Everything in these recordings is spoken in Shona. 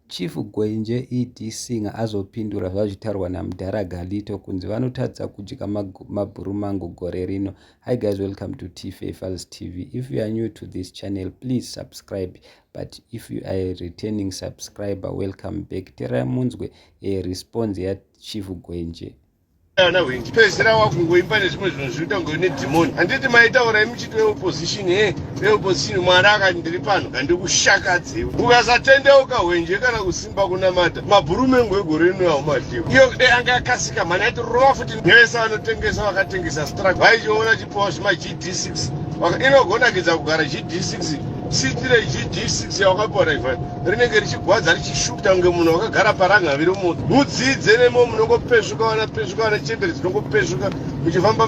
Chief Gwenje ED Singer azopindura zvazvitaurwa namudhara Galito kunzi vanotadza kudya mabhuru mangu gore rino. Hi guys welcome to Tife Files TV. If you are new to this channel please subscribe but if you are a returning subscriber welcome back. Terai munzwe a eh, response ya Chief Gwenje. ana hwindi pedzera wakungoimba nezvimwe zvinhu zviri kuita ngoine dhimoni handiti maitaura imuchiti weopposition he veopposition mwari akati ndiri pano handikushakadzewo ukasatendeuka hwenje kana kusimba kunamata mabhuru mengo egore rino aumadhiwa iyo kudai anga akasika mhani aiti rova futi nevese vanotengesa vakatengesa strak vaichiona chipowa zvima gd6 Waka- inogonakidza kugara gd6 sitire gd6 yawakapiwa naivani rinenge richigwadza richishukta kunge munhu wakagara parangaviri moti mudzidze nemo munongopesvuka vana pesvuka vana chembere dzinongopesvuka muchifamba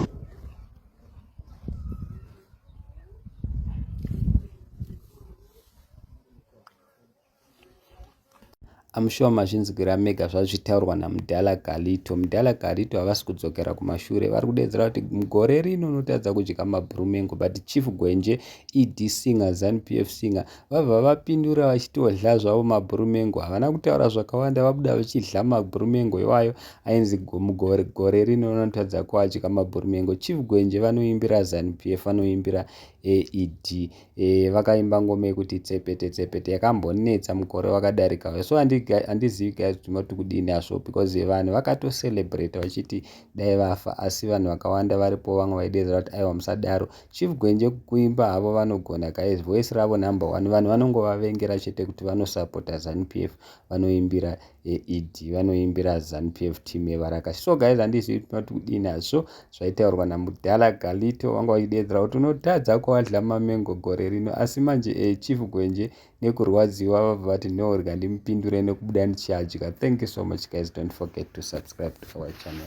amushuwa mazvinzwira mega zvazvitaurwa namudhala galito mudhala galito havasi kudzokera kumashure vari kudeedzera kuti gore rino unotadza kudya mabrumengo but chief gwenje ed singer zanupf singer Vabva vapindura vachitodla zvavo mabhurumengo. Havana kutaura zvakawanda vabuda vachidla mabhurumengo iwayo ainzi gore, gore rino vanotadza kuadya mabhurumengo. Chief Gwenje vanoimbira Zanu PF vanoimbira AED. E, eh, vakaimba ngoma yekuti tsepete tsepete yakambonetsa mukore wakadarika uyo. So handizivi guys kuti mati kudini hazvo because vanhu vakatocelebrate vachiti dai vafa asi vanhu vakawanda varipo vamwe vaidedzera kuti aiwa musadaro Chief Gwenje kuimba havo vanogona guys voice ravo number one vanhu vanongovavengera chete kuti vanosupporta zanupf vanoimbira eed vanoimbira zanupf team yevaraka so guys handizivi kuti mati kudii nazvo zvaitaurwa namudhala galito vanga vachideedzera kuti unotadza kuadla mamengo gore rino asi manje e chief gwenje nekurwadziwa vabva vati no rega ndimupindure nekubuda ndichiadya thank you so much guys don't forget to subscribe to our channel